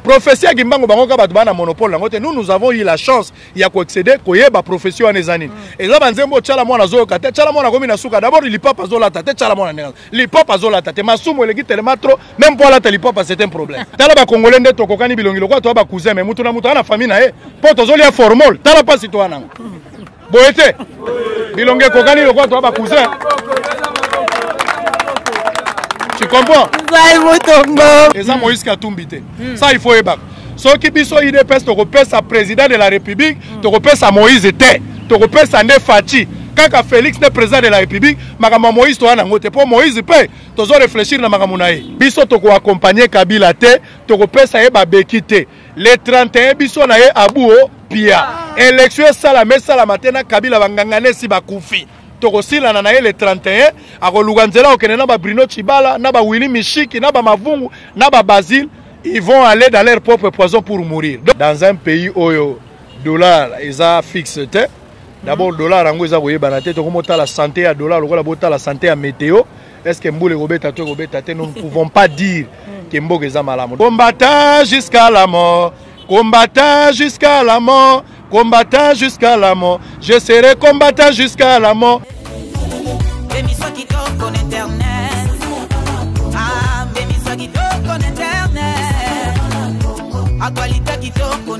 prophetie ya kimbangu bango kaka bato baa na monopole yango te nous nous avons eu la chance ya koexcede koyeba prophetie wana eza nini mm. eza banzembo tyala mwana azoyoka te tyala mwana akomi na suka dabord lipapa azolata te tyala mwana ndenge lipapa azolata te masumu eleki telema trop meme mpo alata lipapa c'est un problème tala bacongolais nde tokokani bilongi lokola toya bacousin me moto na moto aa na famille na ye mpo tozolia formol tala mpasi toya nango boye te bilonga ekokani lokola toa bacousin tu comprends eza moïse katumbi te hmm. ça il faut yebaka soki biso udps tokopesa président de la république hmm. tokopesa moïse te tokopesa nde faci kaka félix nde président de la république makambo ya moïse toya nango te mpo moïse mpe tozo réfléchir na makambo na ye biso tokoaccompagne kabila te tokopesa ye babeki te le 31 biso na ye abuo pia elektio esalama esalama te na kabila bangangana esi bakufi tokosilana na ye le 31 akoluka nzela kokende na babrino chibala na bawili mishiki na bamavungu na babasile ils vont aller dans leur propre poison pour mourir dans un pays oyo dollar eza fixe te d'abord dollar yango eza koyebana te tokomotala sante ya dollar lokola botala sante ya meteo est ce que mbula ekobeta to ekobeta te nous ne pouvons pas dire hmm. ke mboka eza malamu combata jusqu'à la mort combata jusqu'à la mort combata jusqu'à la mort je serai combata jusqu'à la mort Actualité qui tourne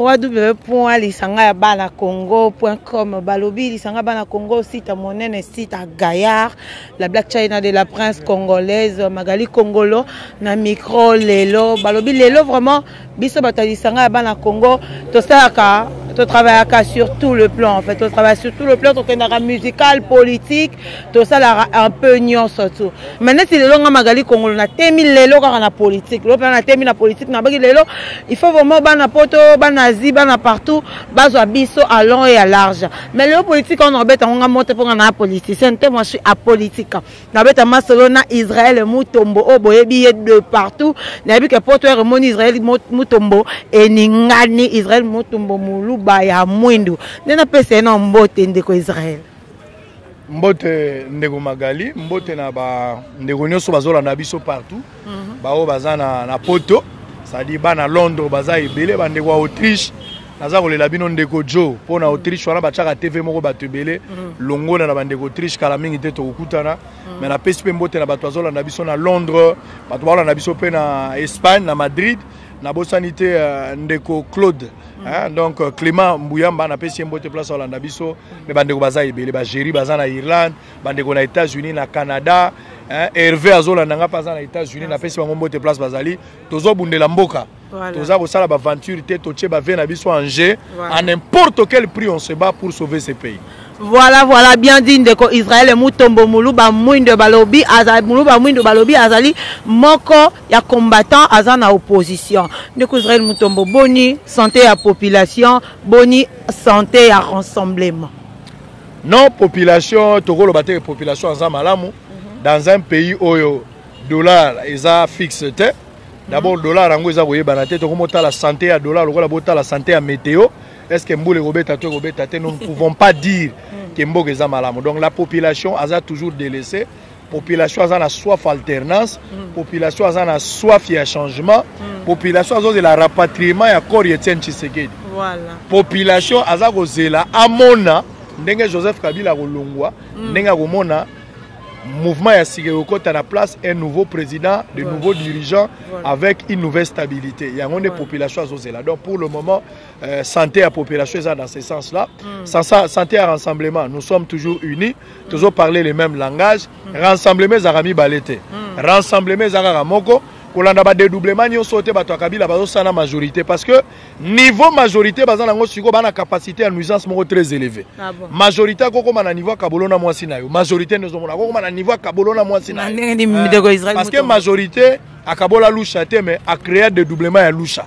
www.lisangayabanacongo.com balobi lisanga bana congo sita monene sita gaillard la black china de la prince congolaise magali congolo na micro lelo balobi lelo vraiment biso bato ya lisanga ya bana congo tosalaka totravaillaka sur tout le plan en fait totravaille sur tout le plan tokendaka musical politique tosalaka un peu nyonso tu mai neti lelo nga magali kongolo natemi lelo kaka na politique lelo mpena natemi na politique nabaki lelo il faut vraiment bana poto bana asie bana partout bazwa biso à long et à large mais lelo politique wana obeta ngo nga mote mpo nga na politicienne te moi je suis apolitique nabeta masolo na israel mutombo oyo boyebi ye de partout nayebi ke poto ere emoni israel mutombo eningani israel mutombo moluba ya mwindu nde napesa ye na mbote ndeko israel mbote ndeko magali mbote na bandeko nyonso bazolanda biso partout mhm. baoyo baza na, na poto sadi bana londres baza ebele bandeko ya autriche naza kolela bino ndeko jo mpo na autriche wana batiaka tv moko bato ebele mhm. longola na bandeko autriche kala mingi te tokokutana mhm. mai napesi mpe mbote na bato bazolanda biso na londres bato baolanda biso mpe na espagne na madrid nabosani te euh, ndeko claude hein, donc euh, clément mbuyamba napesi ye mbote place olanda biso me bandeko baza ebele bagéri baza na irlande bandeko na états-unis na canada hein, herve azolanda ngai mpe aza na états-unis ah, napesi bango mbote place bazali tozobundela mboka voilà. toza kosala baventure te totie bavie na biso en jeu voilà. à n'importe quel prix on se bat pour sauver ce pays voilà voilà bien dit ndeko israel mutombo muluba mwindo balobi azali muluba mwindo balobi azali moko ya combattant aza na opposition ndeko israel mutombo boni santé ya population boni santé ya rassemblement Non population tokoloba te population aza malamu mhm. dans un pays oyo dollar eza fixe te d'abord mhm. dollar yango eza koyebana te tokomotala santé ya dollar lokola botala santé ya météo est ce que mbula ekobeta to ekobeta te nous ne pouvons pas dire mhm. ke mboka eza malamu donc la population aza toujours délaissée population aza na soif alternance mm. population aza na soif ya changement mm. population azozela rapatriement ya corps ya etienne tshisekedi voilà. population aza kozela amona ndenge joseph kabila akolongwa mm. ndenge akomona mouvement ya sika ekokɔta na place un nouveau président de voilà. nouveau dirigeant voilà. avec une nouvelle stabilité yango nde voilà. population azozela donc pour le moment euh, santé ya population eza dans ce sens là mm. santé ya rassemblement nous sommes toujours unis tozo parler le même langage mm. rassemblement ezalaka mibale te mm. rassemblement eza kaka moko kolanda badedoublement nyonso te bato ya kabila bazosala majorité parce que niveau majorité baza nango sikoyo bana capacité ya nuisance moko très élevé ah bon. majorité akokoma na niveau ya kabolo na mwasi na yo majorité nde ozomona akokoma na niveau ya kabolo na mwasi na yo eh, parce que majorité akabola lusha te mais acrea dedoublement ya lusha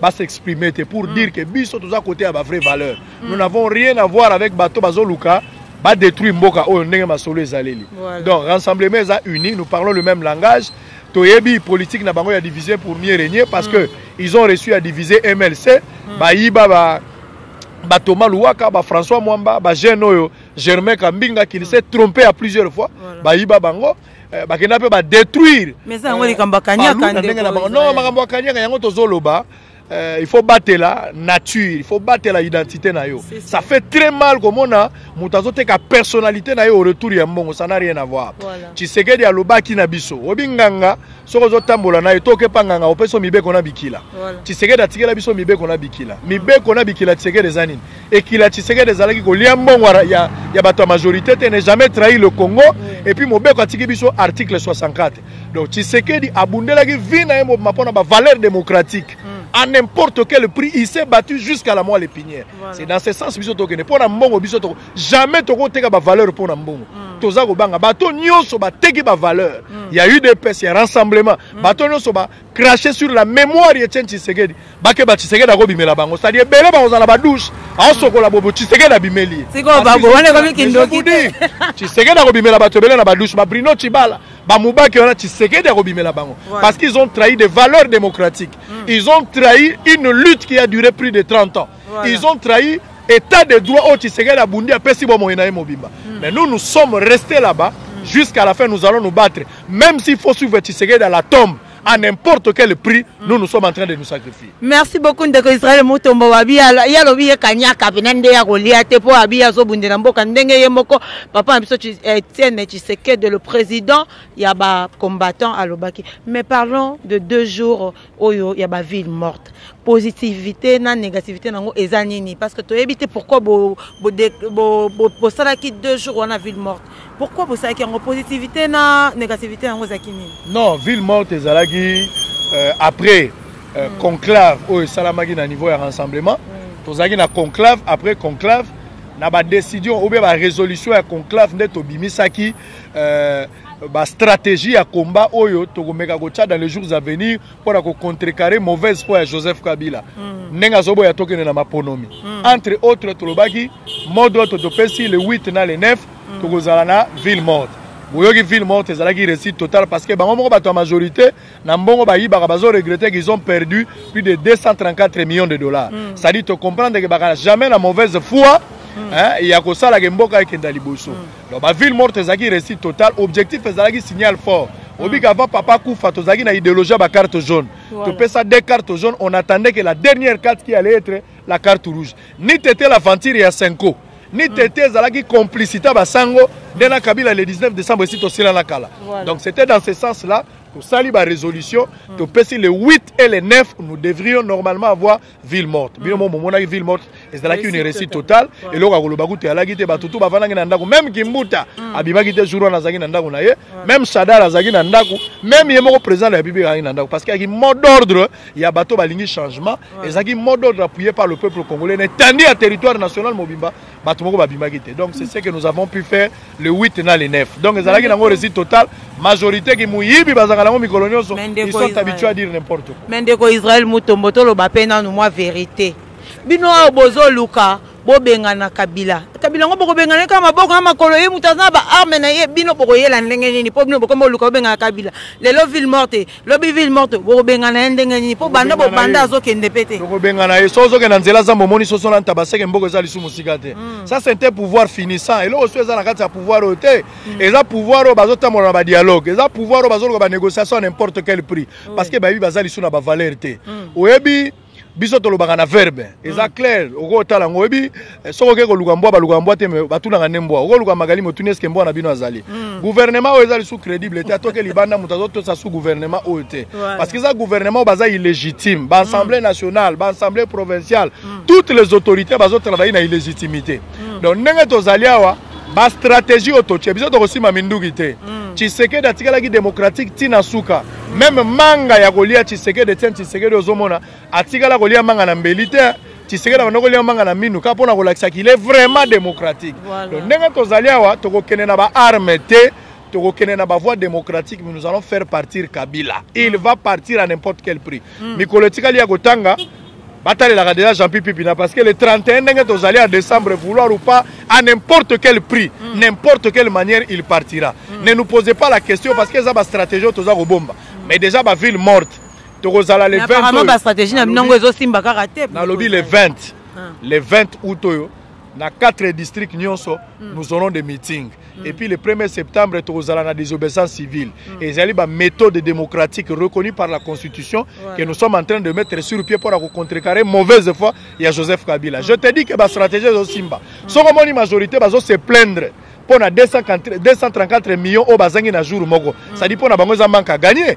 ba s'exprimer te pour mm. dire que biso toza côté ya ba vraie valeur mm. nous n'avons rien à voir avec bato bazoluka ba détruire mboka oyo ndenge masolo ezaleli voilà. donc rassemblement eza uni nous parlons le même langage toyebi politique na bango ya diviser pour mieux régner parce mm. que ils ont reçu à diviser MLC mm. bayiba ba batoma luwaka bafrançois mwamba bagene oyo germain kambinga qui ne s'est trompé à plusieurs fois voilà. bayiba bango Eh, bakenda mpe badétruire mais eza yango eh, likambo akanyaka ndenge na bango non makambo akanyaka yango tozoloba Euh, il faut batela nature il faut batela identité na yo ça fait très mal komona moto azoteka personnalité na yo au retour ya mbongo ça n'a rien à voir voilà. tshisekedi alobaki na biso obi nganga soki ozotambola na ye to okepa nganga opesi yo mibeko na bikila voilà. tshisekedi atikela biso mibeko na bikila mibeko na bikila tshisekedi eza nini ekila tshisekedi ezalaki kolia mbongo ya, ya bato ya majorité te ne jamais trahi le congo mm. epuis mobeko atiki biso article 64 donc tshisekedi abundelaki vi na ye mobima mpo na bavaleur démocratique mm. à n'importe quel prix il s'est battu jusqu'à la moelle l'épinière voilà. c'est dans ce sens biso tokende mpo na mbongo biso toko jamais tokoteka bavaleur mpo na mbongo mm. toza kobanga bato nyonso bateki bavaleur mm. ya udps ya rassemblement mm. bato nyonso ba cracher sur la mémoire ya Chen Tshisekedi bakeba Tshisekedi akobimela bango c'est-à-dire ebele bakozala na badouche aosokola bobo Tshisekedi abimeli ye sikoyo bango wana ekomi kindoki te Tshisekedi akobimela bato ebele na badouche ba Bruno Tshibala bamubaki wana Tshisekedi akobimela bango voilà. parce qu'ils ont trahi des valeurs démocratiques mm. ils ont trahi une lutte qui a duré plus de 30 ans voilà. ils ont trahi état de droit oyo tshisekedi abundi apesi bomoi na ye mobimba mm. mais nous nous sommes restés là-bas mm. jusqu'à la fin nous allons nous battre même s'il faut suivre tshisekedi à la tombe à n'importe quel prix, nous nous sommes en train de nous sacrifier. Merci beaucoup ndeko Israël Mutombo wabi ya lobi ye kanyaka pena nde ya kolia te po abi ya zobundela mboka ndenge ye moko papa na biso Etienne Tshisekedi le président ya ba combattants alobaki. Mais parlons de deux jours oyo ya ba ville morte positivité na négativité nango eza nini parce que toyebi te pourquoi bo bo bo, bo, bo salaki deux jours wana ville morte pourquoi bo salaki yango positivité na négativité nango ezaki nini non ville morte ezalaki euh, après euh, mm. conclave oyo esalamaki na niveau ya rassemblement mm. tozalaki na conclave après conclave na ba décision ou bien ba résolution ya conclave nde tobimisaki euh, ba stratégie ya combat oyo tokomeka kotya dans les jours à venir mpo na kocontrecarre mauvaise foi ya joseph kabila mm. ndenge azoboya tokende na maponomi mm. entre autres tolobaki mode oyo topesi le 8 na le 9 mm. tokozala na ville morte boyoki ville morte ezalaki réussite totale parce que bango moko bato ya majorité na mbongo bayibaka bazo regretter qu'ils ont perdu plus de 234 millions de dollars mm. ça dit to comprendre que baka jamais na mauvaise foi mm. hein, ya kosala ke mboka ekenda liboso mm. donc ba ville morte ezalaki réussite total objectif ezalaki signal fort mm. obika avant papa kufa tozalaki na idéologie ya ba carte jaune voilà. topesa deux cartes jaunes on attendait que la dernière carte qui allait être la carte rouge ni tete l'aventure ya cinco ni mm. tete ezalaki complicité ya basango nde na kabila le 19 décembre esi tosilana kala voilà. donc c'était dans ce sens là tosali barésolution mm. topesi le 8 et le 9 nous devrions normalement avoir ville morte bino mm. mo momonaki ville morte ezalaki une réussite totale eloko ya koloba kutu eyalaki te bato tu bafandaki na ndako meme kimbuta mm. abimaki te jour wana azalaki na ndako na ye meme shadar azalaki na ndako meme ye moko président de la république azalaki na ndako parce que ayaki mot d'ordre ya bato balingi changement ezalaki mot d'ordre appuyé par le peuple congolais na etandi ya territoire national mobimba bato moko babimaki te donc c'est ce que nous avons pu faire le 8 na le 9 donc ezalaki nango réussite total majorité ki moyibi bazalaka nango mikolo nyonso ils sont habitués à dire n'importe quoi mais ndeko israel mutombo toloba mpe nanu mwa vérité bino oyo bozoluka bobengana kabila kabila yango bokobengana ye kaka maboko na makolo ye moto aza na baarme na ye bino bokoyela ndenge nini mpo bino bokomi boluka bobengana kabila lelo ville morte lobi ville morte bokobengana ye ndenge nini mpo banda bobanda azokende mpe te bokobengana ye so ozokende na nzela zambo omoni soso na ntaba seke mboko eza lisu mosika te hmm. ça sente pouvoir finissant eloko so eza na kati ya pouvoir oyo te hmm. eza pouvoir oyo bazotambola na badialogue eza pouvoir oyo bazoluka banégociation n'importe quel prix parce que bayebi baza lisu na bavaleur te hmm. oyebi biso tolobaka na verbe eza hmm. clair okotala yango oyebi eh, soki okei koluka mbwa baluka mbwa te batunaka nde mbwa okoluka magali motuni eske mbwa na bino azali hmm. guvernema oyo eza lisu crédible te atoke libanda moto azotosa su guvernema oyo te parce que eza guvernema oyo baza illégitime baassemblée hmm. nationale baassemblée provinciale toutes les autorités bazotravaille na illégitimité donc ndenge tozali awa ba stratégie oyo totye biso tokosima minduki te mm. tshisekedi atikalaki démocratique ntina suka mm. meme manga ya kolia tshisekedi etienne tshisekedi ozomona atikala kolia manga na mbeli te tshisekedi abanda kolia manga na minu kaka mpo na kolakisa qu'il est vraiment démocratique voilà. donc ndenge tozali awa tokokende na baarme te tokokende na bavoie démocratique mais nous allons faire partir kabila il va partir à n'importe quel prix mm. mikolo etikali ya kotanga batalelaka déjà jean pipipina parce que le 31 ndenge tozali en décembre vouloir ou pas à n'importe quel prix mm. n'importe quelle manière il partira mm. ne nous posez pas la question parce que eza bastratégie oyo toza kobomba mm. mais déjà baville morte tokozala le 20 bastratégie na bino yango ezosimba kaka te nalobi le 20 ah. le 20 août oyo na quatre district nyonso mm. nous aurons des meetings mm. et puis le 1er septembre tokozala na désobéissance civile mm. ezali baméthode démocratique reconnue par la constitution voilà. que nous sommes en train de mettre sur pied mpo na kocontrecarrer mauvaise foi ya joseph kabila mm. je te dis que bastratégie ezosimba mm. soko omoni majorité bazo se plaindre mpo na 234 millions oyo bazangi na jour moko mm. sadi mpo na bango eza manque à gagner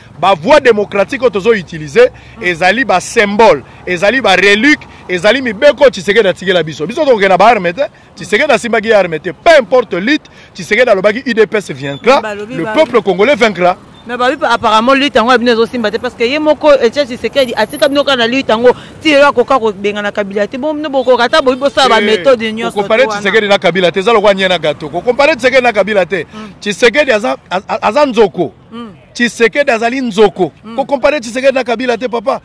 ba voie démocratique oyo tozo utiliser mm. ezali ba symbole ezali ba relique ezali mibeko tshisekedi atikela biso biso tokokenda ba arme te tshisekedi asimbaki ye arme te peu importe lutte tshisekedi alobaki udps vaincra le peuple congolais vaincra mais babi apparemment lutte yango ya bino ezosimba te parce que ye moko etia tshisekedi atika bino kaka na lutte yango ti lelo akoka kobengana kabila te bon bino bokoka ata boyi bosala baméthode eh, nyonso kokompare tshisekedi na kabila te eza lokola nie na gato kokompare tshisekedi na kabila te tshisekedi aza nzoko mm. tshisekedi azali nzoko mm. kokompare tshisekedi na kabila te papa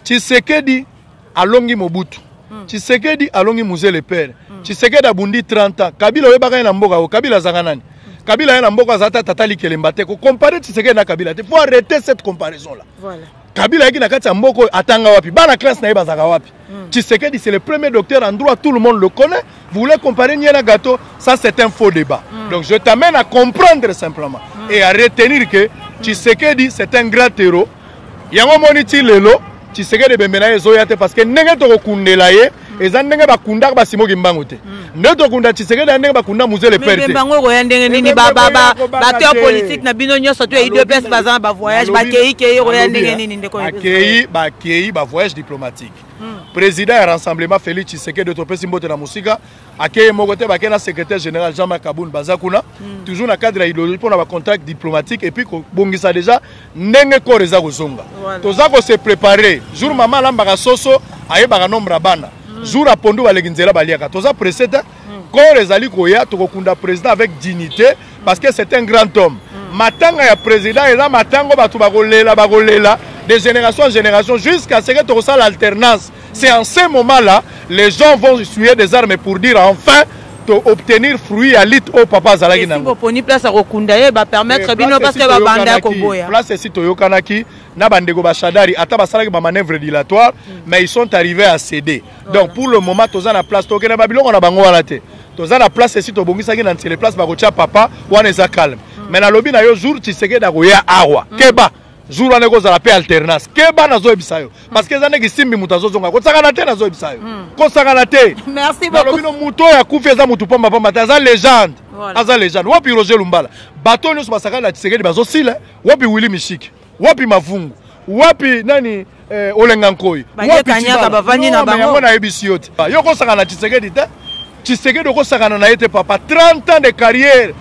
tshisekedi alongi mobutu mm. tshisekedi alongi muzele pere mm. tshisekedi abundi 30 ans kabila oyebaka ye na mboka o kabila azanga nani mm. kabila ye na mboka aza ta tata likelemba te kokompare tshisekedi na kabila te faut arrete cette comparaison là voilà. Kabila ayaki na kati ya mboka oyo atanga wapi bana classe na ye bazaka wapi hmm. Tshisekedi c'est le premier docteur en droit tout le monde le connaît vous voulez comparer nie na gâteau ça c'est un faux débat mm. donc je t'amène à comprendre simplement mm. et à retenir que hmm. Tshisekedi c'est un grand héros yango omoni ti lelo Tshisekedi ebembe na ye ezoya te parce que ndenge tokokundela ye eza ndenge bakundaka basimo kimbangu te hmm. nde tokunda tshisekedi ya ndenge bakunda muzele pere te bango okoya ndenge nini bateur politique na bino nyonso to ya idps baza na bavoyage bakei kei ekoya ndenge nini ndekobakei bakei bavoyage diplomatique hmm. président ya rassemblement félix tshisekedi topesi mbote na mosika akeye moko te bakei na secrétaire général jean marc kabun baza kuna hmm. toujours na cadre ya idéologie mpo na bacontact diplomatique et puis kobongisa déjà ndenge corps eza kozonga voilà. toza ko se préparer jour mm. mama alambaka soso ayebaka nombre ya bana mm. jour apondu baleki nzela baliaka toza presse te mm. corps ezali koya tokokunda président avec dignité mm. parce que c'est un grand homme mm. matanga ya président eza matango bato bakolela bakolela de génération en génération jusqu'à ce que tokosala alternance C'est en ce moment-là, les gens vont essuyer des armes pour dire enfin to obtenir fruit ya lutte oyo papa azalaki na boponi place ya kokunda ye bapermettre eh, bino parce que babanda ya koboya place esi toyokanaki na bandeko bashadari ata basalaki bamanœuvre dilatoire mm. mais ils sont arrivés à céder voilà. donc pour le moment toza na place tokende babiloko na bango wana te toza na place esi tobongisaki na nsele place bakotya papa wana eza calme mm. mais nalobi na yo jour tshisekedi akoya awa mm. keba jour wana ekozala mpe alternance keba nazoyebisa yo parce que eza ndenge simbi moto azozonga kosakana te nazoyebisa yo hmm. kosakana te nalobi no moto oyo akufi eza moto pamba pamba te aza legende aza legende wapi roger lumbala bato oyo nyonso basakani na tisekedi bazosila wapi willi mishiki wapi mavungu wapi nani Eh, olenga nkoi banyekanyaka bavandi na bango yango nayebisi yo te yo okosaka na tshisekedi te tshisekedi okosakana na ye te papa 30 ans de carrière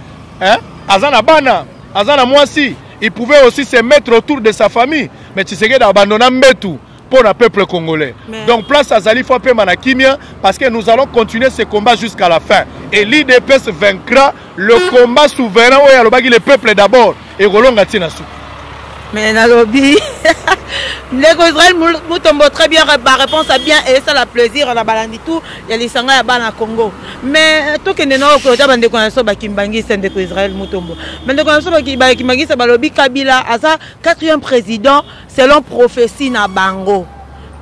hein? aza na bana aza na mwasi il pouvait aussi se mettre autour de sa famille mais tshisekedi abandona mbetu pour le peuple congolais. Mais... Donc place à Zali Fapema na Kimia parce que nous allons continuer ce combat jusqu'à la fin. Et l'IDPS vaincra le combat souverain oyo alobaki le peuple d'abord ekolonga ti na suka mais nalobi ndeko israel mutombo très bien baréponse a bien esala plaisir na balandi tout ya lisanga ya bana congo mais tokende na okota bandeko na biso bakimbangisa ndeko israel mutombo bandeko na biso bakimbangisa balobi kabila aza quatrième président selon prophetie na bango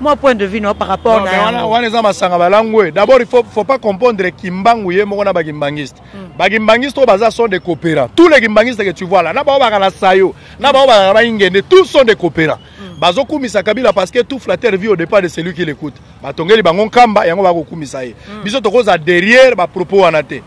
moi point de vue no par rapport na yango wana eza masanga balangwe d'abord il faut faut pas comprendre kimbangu ye moko na ba kimbangiste hmm. ba kimbangiste oyo baza sont des coopérants tous les kimbangistes que tu vois là na bao baka na sayo na bao baka ba ingende tous sont des coopérants hmm. bazokumisa kabila parce que tout flatteur vit au départ de celui qui l'écoute batongeli bango nkamba yango bakokumisa ye hmm. biso tokoza derrière bapropos wana te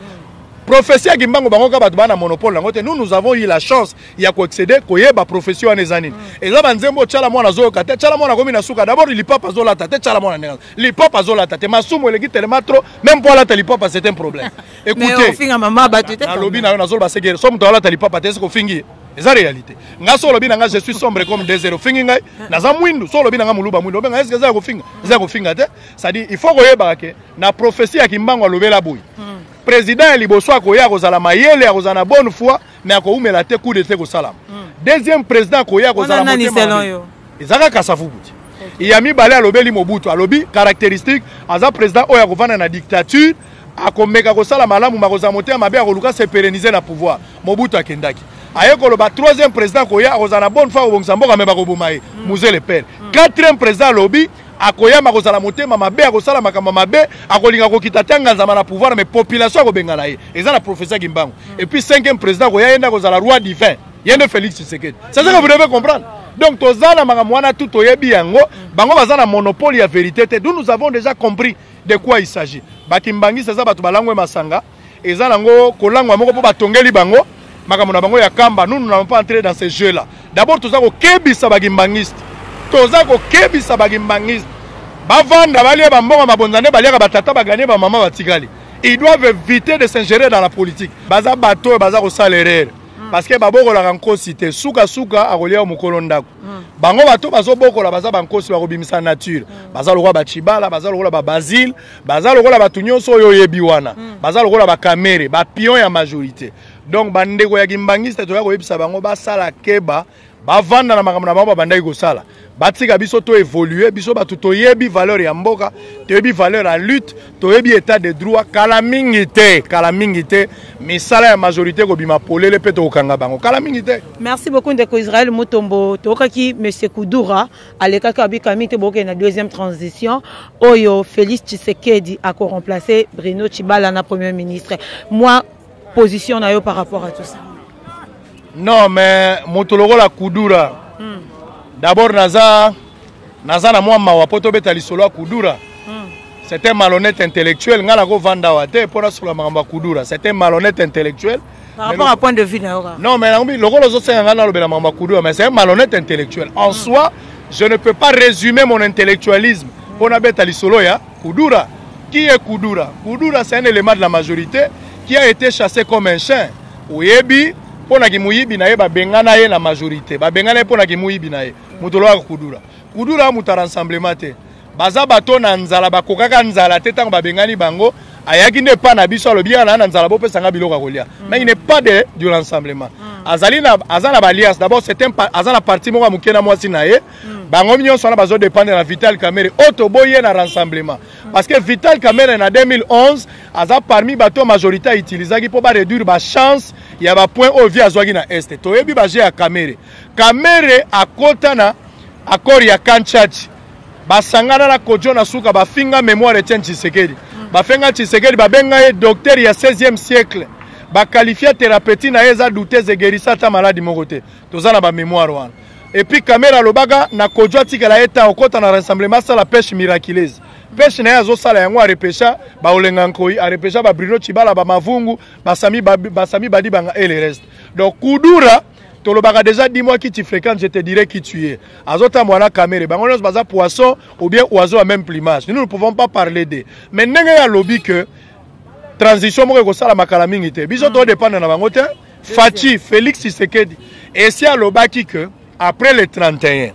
prophetie ya kimbangu bango kaka bato baa na monopole yango te nous nous avons eu la chance ya koexcede koyeba profession wana eza nini mm. eza banzembo tyala mwana azoyoka te tyala mwana akomi na suka dabord lipapa azolata te tyala mwana ndenge lipapa azolata te masumu eleki telema trop meme mpo alata lipapa c'est un problème écouteenalobi na yo nazoloba seke so moto alata lipapa te esikofingi ye eza réalité nga so olobi na nga je suis sombre comme des zero ofingi ngai naza mwindu so olobi na nga moluba mwindu obenga eske eza ya kofinga eza ya kofinga te cestadire il faut koyebaka ke na prophesie ya kimbango alobela boye hmm. président ya liboso akoya akozala mayele akozala na bonne foi mais akoumela te coup d'etat ekosalama hmm. deuxième président akoya akozala motema eza kaka safubuti ya mibale alobeli mobutu alobi caractéristique aza président oyo akovanda na dictature akomeka kosala malamu makozala motema mabe akoluka se pérenniser na pouvoir mobutu akendaki aye koloba troisième président akoya akozala na bonne foi akobongisa mboka me bakoboma ye hmm. muzele pere hmm. quatrième président alobi akoyama akozala motema mabe akosala makambo mabe akolinga kokita te anganzama na pouvoir mais population akobengana ye eza na professeur kimbangu et puis cinquième président akoya ye nde akozala roi divin ye nde félix tshisekedi c'est ce que vous devez comprendre donc toza na makambo wana tu toyebi yango bango baza na monopole ya verité te nous nous avons déjà compris de quoi il s'agit bakimbanguiste eza bato balangwe masanga eza nango kolangwa moko mpo batongeli bango makambo na bango ya kamba nous n'allons pas entrer dans ce jeu là d'abord toza kokebisa bagimbangiste toza kokebisa bagimbangiste bavanda balia bambongo mabonza nde baliaka batata baganie bamama batikali ils doivent éviter de s'ingérer dans la politique baza bato oyo baza kosala erreur hmm. parce que babokolaka nkosi te sukasuka akolia yo mokolo ndako Hmm. bango bato bazobokola baza bankosi bakobimisa nature hmm. baza lokola bachibala baza lokola babazile baza lokola bato nyonso oyo oyebi wana hmm. baza lokola bakamere bapion ya majorité donc bandeko ya kimbangiste toya koyebisa bango basala keba bavanda na makambo na bango babandaki kosala batika biso to évolue biso bato toyebi valeur ya mboka toyebi valeur ya lutte toyebi etat de droit kala mingi te kala mingi te misala ya majorité ekobima polele mpe tokokanga bango kala mingi te merci beaucoup ndeko israel mutombo toyokaki monsieur kudura alekaki abika mingi te bokende na deuxième transition oyo félix tshisekedi akoremplace bruno chibala na premier ministre moi position na yo par rapport à tout ça non mais moto lokola kudura mm. d'abord naza naza na mwa mawa mpo tobeta lisolo ya kudura mm. c'est un malhonnête intellectuel ngai nakovanda awa te mpo nasolola makambo ya kudura c'est un malhonnête intellectuel par rapport à point de vue na yo non mais nakomi lokola ozosenga ngai nalobela makambo ya kudura mais c'est un malhonnête intellectuel en mm. soi je ne peux pas résumer mon intellectualisme mpo nabeta lisolo ya Kudura qui est Kudura Kudura c'est un élément de la majorité qui a été chassé comme un chien oyebi mpo na kimuyibi na ye babengana ye na majorité babengana ye mpo na kimuyibi na ye moto olobaka Kudura Kudura moto ya rassemblement te baza bato na nzala bakokaka nzala te ntango babengani bango ayaki nde epai na biso alobi yaka naa na nzala bopesa ngai biloko ya kolia mm. mais il n'est pas de du rassemblement mm. azali na aza na balias d'abord c'est un aza na parti moko ya moke na mwasi na ye mm. bango nyonso wana bazo dépendre na vital kamere oyo oh, toboyi ye na rassemblement mm. parce que vital kamere na 2011 aza parmi bato oyo majorité autilisaki mpo baréduire bachance ya bapoint oyo vie azwaki na este toyebi baje ya kamere kamere akota na accord ya kanchachi basangana na kojo na suka bafinga mémoire etienne tshisekedi mm. bafenga tshisekedi babenga ye docteur ya 16e siècle bakalifia therapeuti na ye eza doutese egerisa ata maladi moko te toza na bamémoire wana Et puis Kamera alobaka na Kodjo atikala ye ta okota na rassemblement asala pêche miraculeuse. Pêche na ye azosala yango arepesha baolenga nkoi arepesha ba Bruno Chibala ba Mavungu basami ba, basami badi banga et le reste. Donc Kudura tolobaka déjà dis moi qui tu fréquentes je te dirai qui tu es azotambwa na kamere bango nyonso baza poisson ou bien oiseau ya même plumage nous ne pouvons pas parler de mais ndenge ye alobi que transition moko ekosalama kala mingi te biso todépendre na bango te Fatshi Felix Tshisekedi esi alobaki que après le 31 hmm.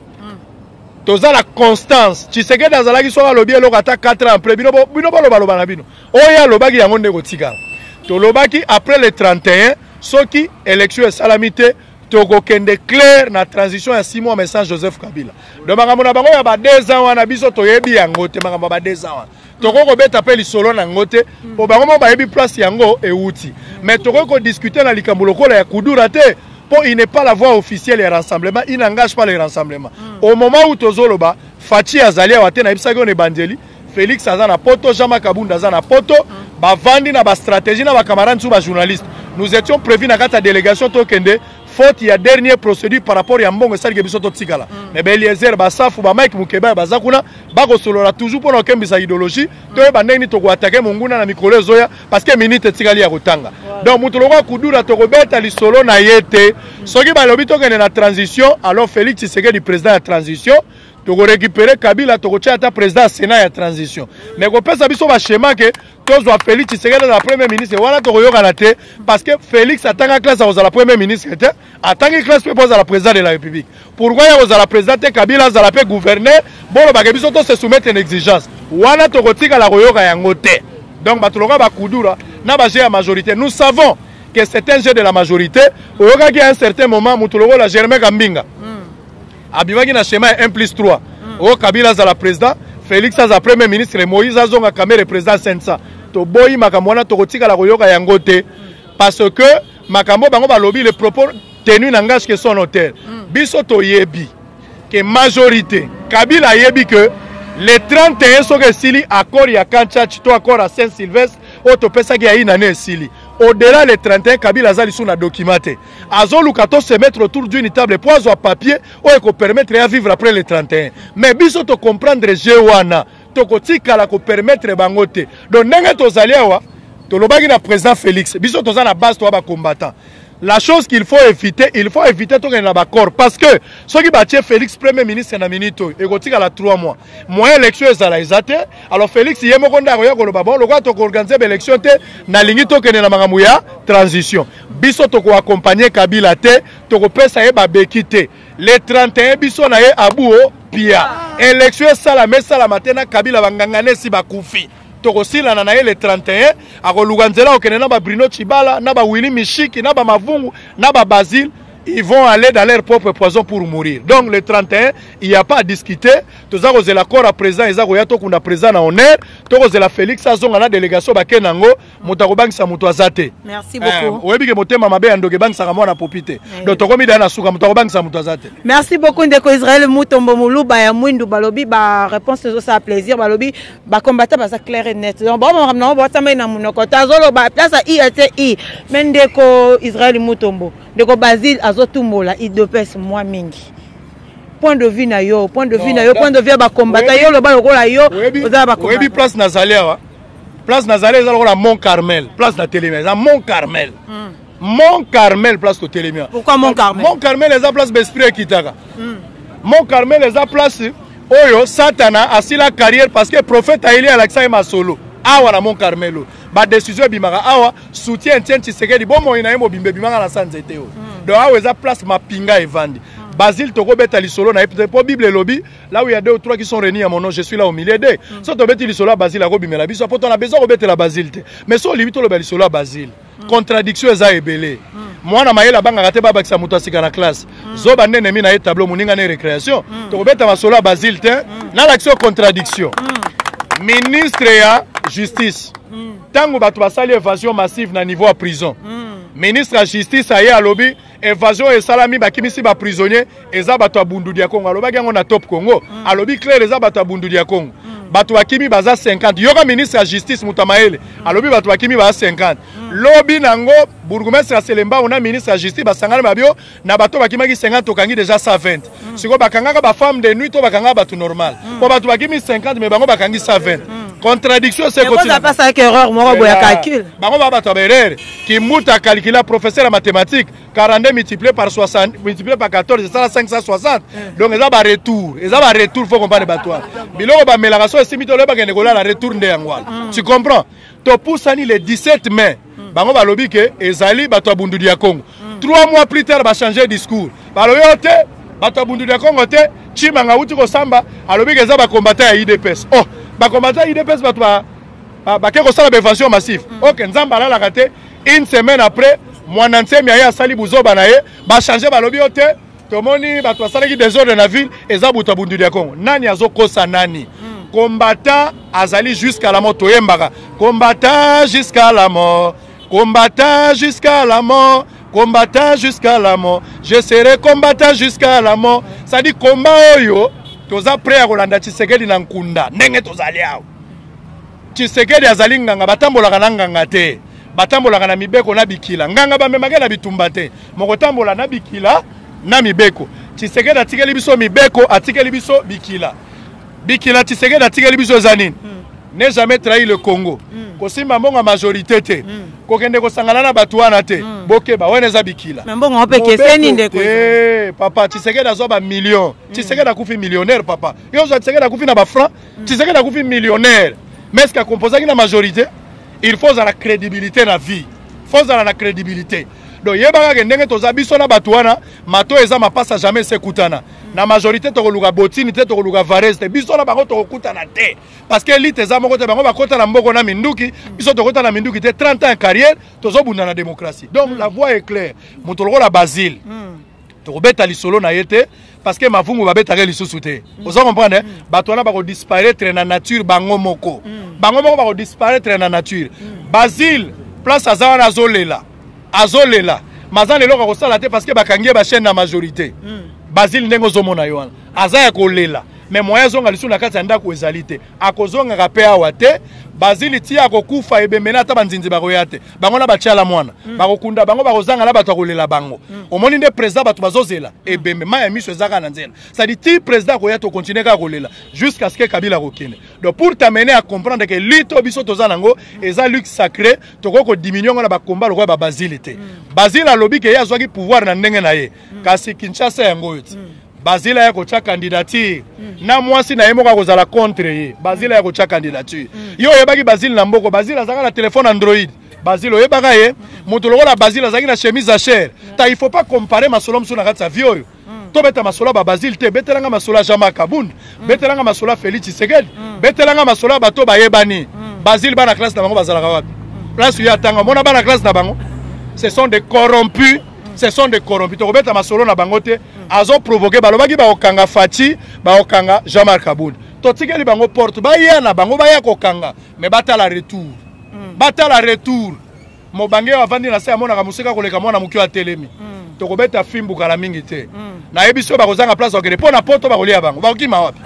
toza na constance tshisekedi azalaki soki alobi eloko ata 4 ans après bino bolobaloba na bino oyo alobaki yango nde kotikala tolobaki après le 31 soki élection esalami te tokokende claire na transition ya six mois mais sans joseph kabila donc makambo na bango ya ba deux ans wana biso toyebi yango te makambo ya ba deux ans wana tokoki kobeta mpe lisolo na yango te mpo bango moko bayebi place yango ewuti mais tokoki kodiskute na likambo lokola ya kudura te mpo il n'est pas la voie officielle ya rassemblement il n'engage pas le rassemblement mm. au moment où tozoloba faci azali awa te nayebisaki yo na ebandeli félix aza na poto jean makabunda aza na poto mm. bavandi na bastratégie na bacamarade nsusu bajournaliste nous étions prévu na kati ya délégation tokende faute ya dernier procédure par rapport ya mbongo esalike biso totikala mm. mais baeliezer basafu bamike mokebaya baza kuna bakosolola toujours mpona kokembisa idéologie mm. toyeba ndenge nini tokoatake monguna na mikolo ezoya parce que minute etikali ya kotanga donc moto lokola kudura tokobeta lisolo na ye te mm. soki balobi tokende na transition alors félix tshisekedi président ya transition tokorécupere kabila tokotya ata président ya sénat ya transition mais kopesa biso bashema ke tozwa félix tshisekedi azala premier ministre wana tokoyokana te parce que félix atanga classe akozala premier ministre te atangi classe mpe mpo azala président de la république pourkoi ya kozala président te kabila azala mpe gouverneur bolobake biso to se soumettre na exigence wana tokotikala koyoka yango te donc bato lokola bakudura na baje ya majorité nous savons que c'est un jeu de la majorité oyokaki à un certain moment moto lokola germain kambinga abimaki na schéma ya 1 plus 3 mm. oyo kabila azala président félix aza premier ministre moïse azonga kamere président sensa toboyi makambo wana tokotikala koyoka yango te mm. parce que makambo bango balobi le propos tenu na ngage ke son hôtel mm. biso toyebi ke majorité kabila ayebi que le 31 soki esili accord ya kanchach to accord ya saint sylvestre oyo topesaki ya inane esili au delà le 31 kabila aza lisusu na document te azoluka to se mettre autour d'une table mpo azwa papier oyo ekopermettre ya vivre après le 31 mais biso tocomprendre jeu wana tokotikala kopermettre bango te donc ndenge tozali awa tolobaki na président félix biso toza na base toya bacombattant la chose qu'il faut éviter il faut éviter tokende na baccord parce que soki batie félix premier ministre na minute oyo ekotikala 3 mois moyen élection ezala eza te alors félix ye moko nde akoya koloba bon lokola tokoorganize baélection te nalingi tokende na makambo ya transition biso toko accompagner kabila te tokopesa ye babeki te le 31 biso na ye abuo pia election esalama esalama te na kabila banganga nesi bakufi tokosilana na ye le 31 akoluka nzela akokende na babrino chibala na bawili mishiki na bamavungu na babasile ils vont aller dans leur propre poison pour mourir donc le 31 il n'y a pas à discuter toza kozela corps à présent eza koya tokunda présent na honneur tokozela félix azonga na délégation bakende yango moto akobangisa moto aza te eh, oyebi ke motema mabe ya ndoki ebangisaka mwana popi te eh. donc tokomi daya na suka moto akobangisa moto aza te merci beaucoup ndeko israel mutombo moluba ya mwindu balobi baréponse ezosala plaisir balobi bacombata baza claire et net donc baomakambo nango batambai na monoko te azoloba place ya ilti me ndeko israel mutombo ndeko basile azotumbola idopes mwa mingi point de vue na yo point de vue na yo point de vue ya bacombatant yo oloba lokola yo oza baoyebi place nazali awa place nazali eza lokola mont carmel place na telemi eza mont carmel mm. mont carmel place totelemi pourquoi mont carmel mont carmel eza place baesprit ekitaka mm. mont carmel eza place oyo satana asila carrière parce que prophète ayeli alakisa ye masolo awa na mont carmel oyo badécision ebimaka awa soutien etienne tshisekedi bomoi na ye mobimba ebimaka na sa nzete oyo mm. donc awa eza place mapinga evandi mm. basile tokobeta lisolo na ye mpo bible elobi là où il y a deux ou trois qui sont réunis à mon nom, je suis là au milieu d'eux. Mm. Soit obeti lisolo à Basile, ako bimela biso, poto na besoin obeti la Basile te. Mais so libi to le lisolo à Basile. Mm. Contradiction eza ebele. Mm. mwana mayele abangaka te babakisa moto asika na classe mm. zoba nde enemi na ye tableau moninga na ye récréation mm. tokobeta masolo ya basile te mm. nalakisi yo contradiction mm. ministre ya justice ntango mm. bato basali évasion massive na niveau ya prison mm. ministre ya justice aye alobi evasion oyo esalami bakimisi ba prisonnier eza bato ya bundudi ya congo alobaki yango na top congo mm. alobi claire eza bato ya bundudi ya congo mm. bato bakimi baza 50 yoka ministre ya justice moto ya mayele mm. alobi bato bakimi baza 50 mm. lobi nango bourgmestre ya selembao na ministre ya justice basangani babio na bato bakimaki 50 tokangi deja 120 mm. sikoyo bakangaka ba femme de nuit to bakangaka bato normal mm. po bato bakimi 50 me bango bakangi 120 mm. contradiction sekotiapasaki erreur moko boya calcul bango ba bato ya baerreur kimbuta calcula professeur ya mathématique 42 multiplié par 60 multiplié par 14 esala 560 mm. donc eza baretour eza baretour fo comprendre bato wana biloko bamelaka so esimbi toloye bakende kolala retour nde yango wana mm. tu comprends topusani le 17 mai mm. bango balobi ke ezali bato ya bundudi ya congo mm. trois mois plus tard bachange discours balobi yo te bato ya bundudi ya congo te chimanga awuti kosamba alobi ke eza bakombata ya idps oh bakombata ya idps bato ba, ba, bake kosala baevasion massive mm. ok nzambe alalaka te une semaine après mwana nsemi aye asali buzoba na ye bachange balobi yo te tomoni bato basalaki desordre na ville eza buta bunduli ya congo nani azokosa nani hmm. combattant azali jusqu'à la mort toyembaka combattant jusqu'à la mort combattant jusqu'à la mort combattant jusqu'à la mort je serai combattant jusqu'à la mort sadi combat oyo toza prêt ya kolanda tshisekedi na nkunda ndenge tozali awa tshisekedi azali nganga batambolaka na nganga te batambolaka na mibeko na bikila nganga bamemake na bitumba te mokotambola na bikila na mibeko tshisekedi atikeli biso mibeko atikeli biso bikila bikila tshisekedi atikeli biso eza nini hmm. ne jamais trahi le congo hmm. kosimba mbongo ya majorité te hmm. kokende kosangana na bato wana te bokeba wana eza bikila papa tshisekedi azwa bamillion tshisekedi akufi millionnaire papa yo ozwa tshisekedi akufi na bafranc Tshisekedi akufi millionnaire mais eske akomposaki na majorité il faut ozala crédibilité na vie faut ozala na crédibilité donc yebaka ke ndenge toza biso na bato wana mato eza mapasa jamais esekutana na majorité tokoluka botini te tokoluka varese te biso na bango tokokutana te parce que elite eza moko te bango bakota na mboko na minduki biso tokota na minduki te 30 ans ya carrière tozobunda na démocratie donc la voie est claire moto lokola basile mm. tokobeta lisolo na ye te parce que mavungu babetaka lisusu te mm. oza comprendre eh? mm. bato wana bakodisparaître na nature bango moko mm. bango moko bakodisparaître na nature mm. basile place aza wana azolela azolela maza na eloko akosala te parce que bakangi ye bachaine na majorité mm. basile ndenge ozomona ye wana aza ya kolela mais moyen azonga lisusu na kati ya ndako ezali te akozongaka mpe awa te bazili ti akokufa ebembe na ata banzinzi bakoya te bango na batiala mwana mm. bakokunda bango bakozanga na bato akolela bango mm. omoni nde président bato bazozela mm. ebembe mai ya miso ezaka na nzela sadi ti président akoya tokontinue kaka kolela jusqu'à ce que kabila akokende donc pour t'amener à comprendre que lutte oyo biso toza nango mm. eza lutte sacré tokoki kodiminue yango na bakomba lokola babazili te mm. bazili alobi ke ye azwaki pouvoir na ndenge na ye mm. kasi kinshasa yango oyo ti mm. bazila ya kotya candidature mm. na mwasi na ye moko akozala contre ye bazila ya kotya candidature mm. yo oyebaki bazile na mboko bazile azalaka na telefone android bazile oyebaka ye moto lokola bazile azalaki na chemise achere mm. ta il faut pas compare masolo mosusu na kati ya vie oyo mm. tobeta masolo ya babazile te betelanga masolo ya jama kabund mm. betelanga masolo ya félix tshisekedi mm. betelanga masolo ya bato bayebani mm. bazile bana classe na bango bazalaka wapi place oyo atanga omona bana classe na bango ce sont des corrompus ce sont des corrompus tokobeta masolo na bango te azo provoke balobaki bakokanga faci bakokanga jean marc aboud totikeli bango porte baya na bango baya kokanga mais batala retour mm. batala retour mobange oyo avandi na se amonaka mosika koleka mwana moke oyo atelemi mm. tokobeta fimbu kala mingi te mm. nayebi soki bakozanga place bakende mpo na poto bakolia bango bakokima wapi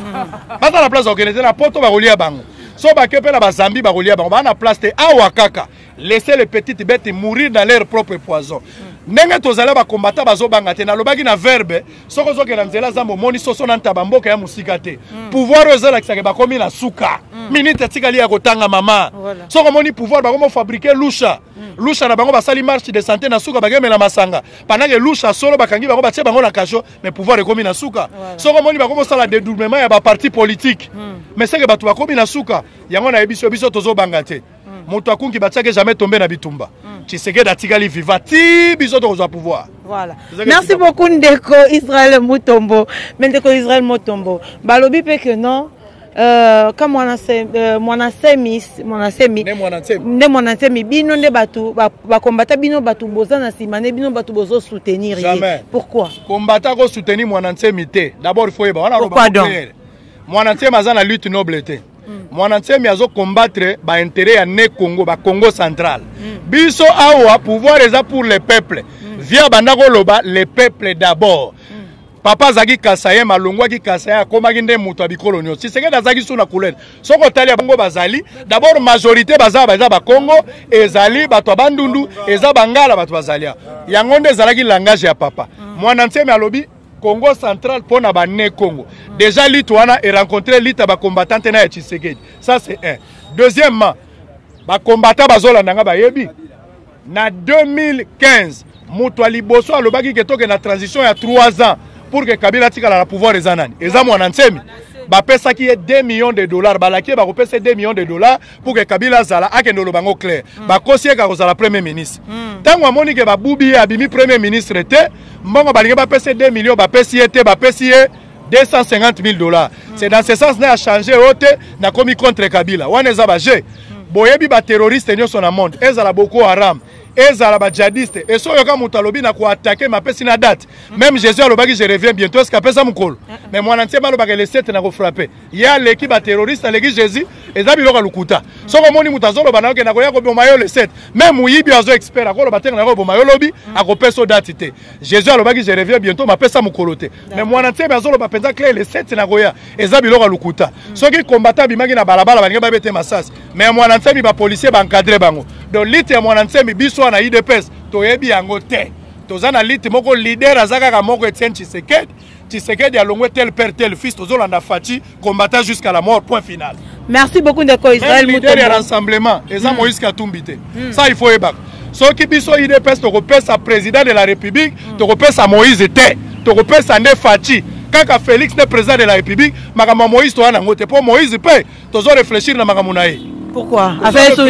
baza na place bakende te na poto bakolia bango so bake mpe na bazambi bakolia bango baa na place te awa kaka laisser les petites bêtes mourir dans leur propre poison ndenge tozali bakombata bazobanga te nalobaki na verbe soki ozokenda nzela zamba omoni soso na ntaba mboka ya mosika te mm. pouvoir oyo ezolakisaka bakomi na suka mm. minite etikali ya kotanga mama soki omoni pouvoir bakomi ofabrike lusha mm. lusha na bango basali marche de santé na suka bakemela masanga pandake lusha solo bakangi bango batie bango na kasho mais pouvoir ekomi na suka soki omoni bakomi osala dedoublement ya baparti politique mais seke bato bakomi na suka yango nayebi biso biso tozobanga te mm. moto akunki batiaki jamais tombe na bitumba mm. tshisekedi atikali viva ti biso tokozwa pouvoir voilà merci beaucoup ndeko israel mutombo me ndeko israel mutombo balobi mpe que non Euh, ka euh, mwana semi nde mwana nsemi bino nde bato bakombata bino bato boza na nsima nde bino bato bozo soutenir ye pourquoi kombata ko soutenir mwana nsemi te d'abord il faut yeba wana mwana nsemi aza na lutte noble te mm. mwana nsemi azo combattre ba intérêt ya ne congo ba congo central mm. biso awa pouvoir eza pour le peuple mm. via banda koloba le peuple d'abord mm. papa azalaki kasayen malongwaki kasayen akomaki nde moto ya bikolo nyonso tisekedi azalaki su na couleur soki otali ya bango bazali dabord majorité baza baza bakongo ezali bato ya bandundu eza bangala bato bazali yango nde ezalaki langage ya papa mm. mwana nsemi alobi Congo central mpo na ba ne Congo. Mm. Déjà lutte wana e rencontrer lutte ya ba combattants na ya Tshisekedi. Ça c'est un. Deuxièmement, ba combattants bazolanda nga bayebi na 2015 moto ya liboso alobaki ke toke na transition ya 3 ans pour que Kabila atikala na pouvoir eza nani? Eza mwana nsemi. Bapesaki ye 2 millions de dollars, balaki ye bakopesa 2 millions de dollars pour que kabila azala akende oloba yango claire mm. bakosi yeka kozala premier ministre ntango mm. amoni ke babubi ye abimi premier ministre te mbongo balingi bapesa ye 2 million bapesi ye te bapesi ye 250 000 dollars mm. c'est dans ce sens na ya change oyo te nakomi contre kabila wana eza baje mm. boyebi baterroriste nyonso na monde ezala boko haram ezala bajadiste esi oyoka moto alobi na koatake mapesi na date mm. meme jésus alobaki je reviens bientôt eske apesa mokolo mm. mais mwana ntiema alobaka elesete na kofrape ye aleki ba terroriste aleki jésus eza biloko ya lokuta soki omoni moto azoloba na yo kenda koya koboma yo le 7 me moyibi oyo azo expert akoloba te kenda koboma yo lobi mm. akopesa yo dati te jésus alobaki je reviens bientôt mapesa mokolo te me mwana nsebe azoloba mpenza clair le 7 nakoya eza biloko ya lokuta mm. soki kombata abimaki na balabala balingi babete masasi me mwana nsemi bapolisier baencadre bango donc lite ya mwana nsemi biso wana idps toyebi yango te toza na lite moko leader aza kaka moko etienne tshisekedi Tshisekedi alongwe tel père tel fils tozolanda Fatshi combattant jusqu'à la mort point final. Merci beaucoup ndeko Israël Mutombo. Leader ya rassemblement eza mm. Moïse Katumbi te. Mm. Ça il faut ebaka. Soki biso UDPS tokopesa président de la République mm. tokopesa Moïse te tokopesa nde Fatshi kaka Félix nde président de la République makambo ya Moïse toya nango te mpo Moïse mpe tozo réfléchir na makambo na ye. Pourquoi? Avec son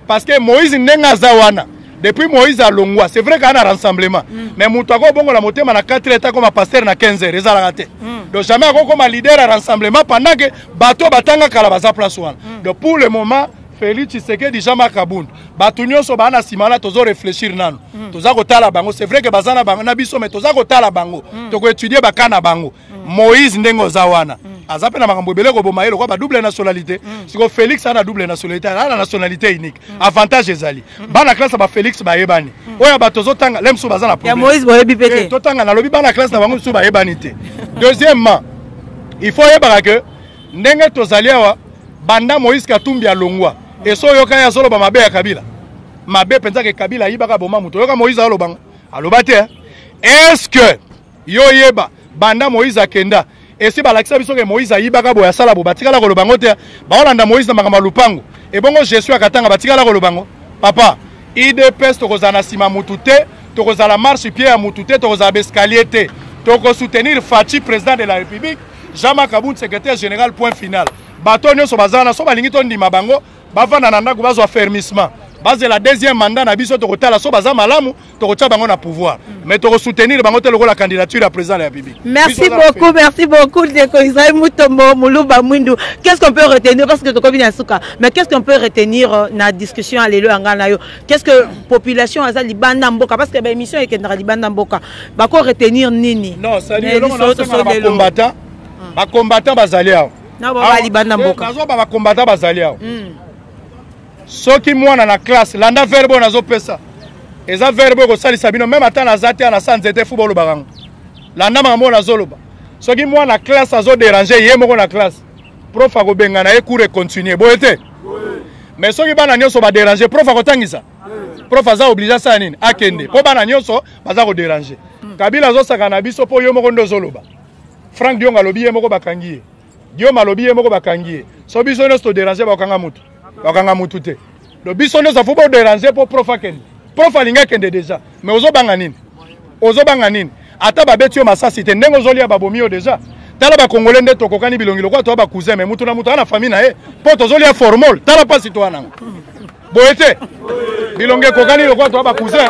parce que moïse ndenge aza wana depuis moïse alongwa c'est vrai kaka na rassemblement mm. mais moto akobongola motema na 4 heure akoma pasteur na 15 heure ezalaka te mm. donc jamais akokoma leader ya rassemblement pendant que bato oyo batanga kala baza place wana mm. donc pour le moment félix tshisekedi jean marc abund bato nyonso baa na nsima wana tozo réfléchir nano mm. toza kotala bango c'est vrai ke baza na, na biso mais toza kotala bango mm. tokoétudie baka na bango mm. moïse ndenge oza wana mm. aza mpe na makambo ebele koboma ye lokola ba double nationalité mm. siko félix ana double nationalité ana na nationalité unique mm. avantage ezali mm. bana classe ya bafélix bayebani mm. oyo ya bato ozotanga le mosusu baza na eh, totanga nalobi bana classe na bango mosusu bayebani te deuxièmement il faut oyebaka ke ndenge tozali awa banda moïse katumbi alongwa eso oyoka ye azoloba mabe ya kabila mabe mpenza ke kabila ayibaka boma moto oyoka moïse alobango aloba te est ce que yo yeba banda moïse akenda esi balakisa biso ke moïse ayibaka boye asala bo batikala koloba yango te baolanda moïse na makambo ya lupango ebongo jesu ya katanga batikala koloba yango papa idps tokozala na nsima mutu te tokozala marche pie ya mutu te tokozala baescalier te tokosoutenir faci président de la république jean makabund secrétaire général point final bato nyonso baza wana so balingi tondima bango bavanda na ndako bazwa fermissement bazela deuxième mandat na biso tokotala so baza malamu tokotya bango na pouvoir mais tokosoutenir bango te lokola candidature ya président de la république merci beaucoup merci beaucoup ndeko israel mutombo muluba mwindu qu'est ce qu'on peut retenir parce que tokomi na suka mais qu'est ce qu'on peut retenir euh, na discussion ya lelo ya ngai na yo qu'est ce que population aza libanda mboka parce que baémission ekendaka libanda mboka bako retenir nini non sali eloko na combattant bacombattant bazali awa na baba libanda mboka nazo ba combattant bazali awa hmm. soki mwana na classe landa verbe nazo pesa eza verbe ko salisa bino même ata na zate na sa nzete fu bolo bakango landa makambo nazo loba soki mwana classe azo déranger ye moko na classe prof akobengana ye cours econtinue boye te mais soki bana nyonso badérange prof akotangisa prof aza oblige asala nini akende mpo bana nyonso baza kodérange kabila azosaka na biso mpo yo moko nde ozoloba Frank Dionga alobi ye moko bakangi ye. Guillaume alobi ye moko bakangi ye. So biso nyonso to déranger bakanga mutu. Bakanga mutu te. Donc biso nyonso faut bo déranger pour prof akende. Prof alinga kende déjà. Mais ozo banga nini? Ozo banga nini? Ata babeti yo masasi te ndenge ozolia babomi yo déjà. tala bakongole nde tokokani bilongi lokola toya bacousin me moto na moto aa na famille na ye mpo tozolia formol tala mpasi toya nango boye te bilonga ekokani lokola toa bacousin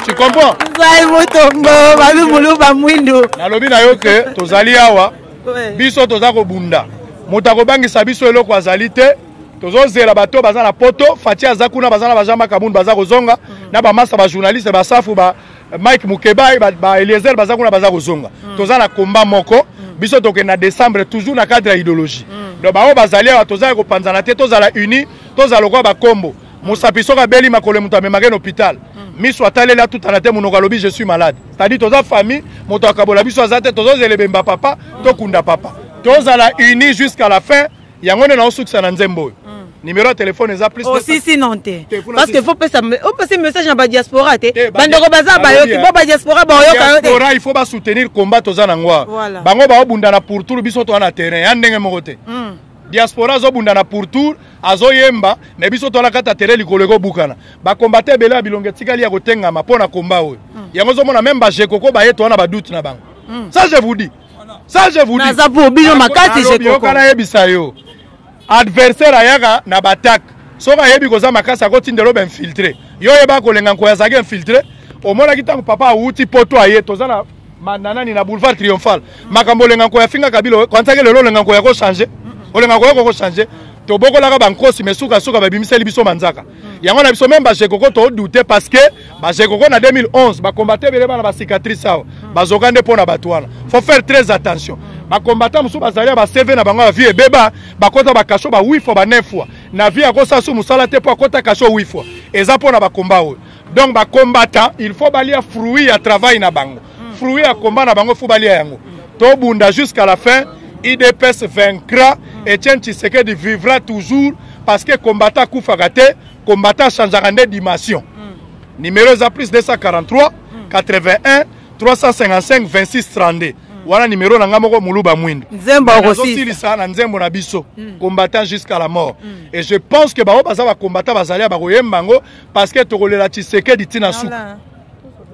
tu comprends nzai motombo babi muluba mwindu nalobi na yo ke tozali awa biso toza kobunda moto akobangisa biso eloko azali te tozozela bato baza na poto fati aza kuna baza na bajean makamund baza kozonga mhm. na bamasa bajournaliste basafu ba Mike Mukebayi ba, ba Eliezer baza kuna baza kozonga. Mm. Toza na combat moko. Mm. Biso tokende na décembre toujours na cadre ya idéologie. Mm. Donc baoyo bazali awa toza kopanzana te tozala unis tozala lokola bakombo. Mosapi soki abeli makolo moto amemake na hôpital. Mm. miso ataleli atutana te monoko alobi je suis malade c'est-à-dire toza famille moto akabola biso aza te tozozela ebemba papa tokunda papa tozala unis jusqu'à la fin yango nde naosukisa na nzembo oyo mm. numéro ya telefone eza plus osisi oh, non te parce que faut pesa opesi message na badiaspora te bandeko baza bayoki bo badiaspora baoyoka yo tediaspora il faut basoutenir combat toza na ngwa bango baobunda na pourtour biso toa na terrain ya ndenge moko te mm. diaspora azobunda na pourtour azoyemba me biso toala kata tere likolo ekobukana bakombate ebele ya bilongo etikali ya kotengama mpo na komba oyo mm. yango ozomona meme bajekoko baye toa na badute na bango mm. ça je vous dis ça je vous dis naza pour bino makasi je comprends yokala yebisa yo adversaire ayaka na battaque soki ayebi koza makasi akotindela obe infiltre yo oyeba kolenga nkoyo azalaki infiltre omonaki ntango papa awuti poto aye toza na mananani na boulevard triomphal makambo olenga nkoyo afinga kabila kwansaki lelo olenga nkoyo akochange olenga nkoyo okokochange tobokolaka bankosi me sukasuka babimiseli biso manzaka yango na biso meme bajekoko todoute parce que bajekoko na 2011 bakombate ebele bana bacicatrice awa bazoka nde mpo na bato wana faut faire très attention bakombata mosusu bazali ya bacv na bango ya vie ebeba bakota bakasho ba 8 fois ba 9 fois na vie akosala su mosala te mpo akota kasho 8 fois eza mpo na bakomba oyo donc bakombata il faut balia fruit ya travail na bango mm. fruit ya combat na bango fo balia yango mm. tobunda jusqu'à la fin idps vaincra mm. etienne tshisekedi vivra toujours parce que combattant akufaka te combattant achangeaka nde dimension mm. numéro eza plus 243 mm. 81 355 26 32 wana numero na ngai moko moluba mwindu nazosilisa na nzembo na biso mm. combattant jusqu'à la mort mm. et je pense que bango baza bacombattant bazali ya bakoyemba yango parce que tokolela tshisekedi ntina suka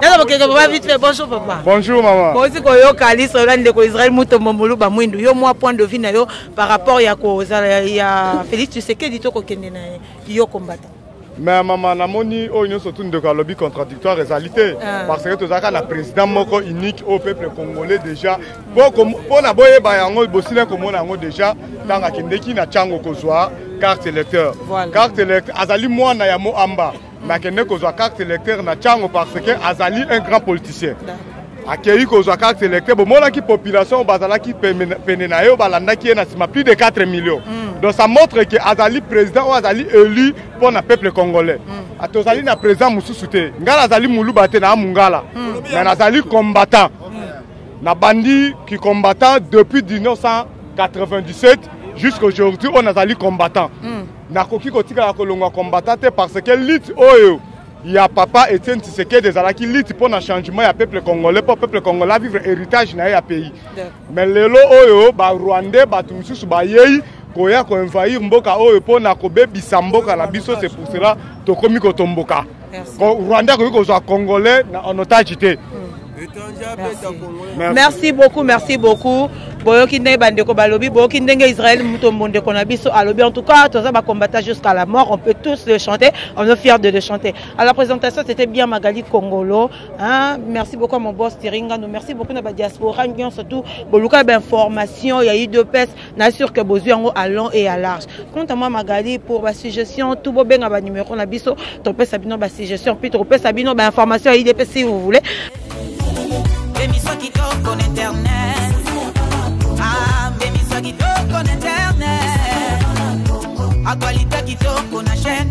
naza bokeke papa vite fait bonjour papa bonjour mama bozi koyoka liso ola ndeko israel mutombo moluba mwindu yo mwa point de vue na yo par rapport ya kozala ya félix tshisekedi to kokende na ye yo kombata mais mama namoni oyo nyonso tu ndeko alobi contradictoire ezali te ah. parce que tozalaka na président moko unique au peuple congolais déjà mpo na boyeba yango bosila komona yango déjà ntango akendeki na ntango kozwa carte électeur carte électeur azali mwana ya moamba mais akende kozwa carte électeur na cango parce que azali un grand politicien akei kozwa carte électeur bomonaki population bazalaki pene na ye oyo balandaki ye na nsima plus de 4 millions mm. donc ça montre que azali président oyo azali élu mpo na peuple congolais mm. ah, tozali na président mosusu te ngai nazali moluba te naa mongala mm. mais nazali combattant nabandi kicombattant depuis 1997 jusqu'aujourd'hui oyo nazali combattant Nakoki kotikala kolongwa combattant te parce que lutte oyo ya papa Etienne Tshisekedi ezalaki lutte mpo na changement ya peuple congolais mpo peuple congolais avivre héritage na ye ya pays mais lelo oyo barwandais bato mosusu bayei koya koenvahir mboka oyo mpo na kobebisa mboka na biso c'est pour cela tokomi kotomboka Rwanda akoki kozwa congolais na en otage te Merci. merci beaucoup merci beaucoup boyoki ndenge bandeko balobi boyoki ndenge israel moto mbondeko na biso alobi en tout cas toza bacombata jusqu'à la mort on peut tous le chanter on est fier de le chanter à la présentation c'était bien magali congolo hein? merci beaucoup à mon boss tiringano merci beaucoup na badiaspora nyonso tout boluka bainformation ya udps na sur que bozwi yango à long et à large quant à moi magali pour basuggestion tout bobenga banumero na biso topesa bino basuggestion puis tokopesa bino bainformation ya idp si vous voulez emisio kitoko na internet ah, emisio kitoko na internet actualité kitoko na chaîne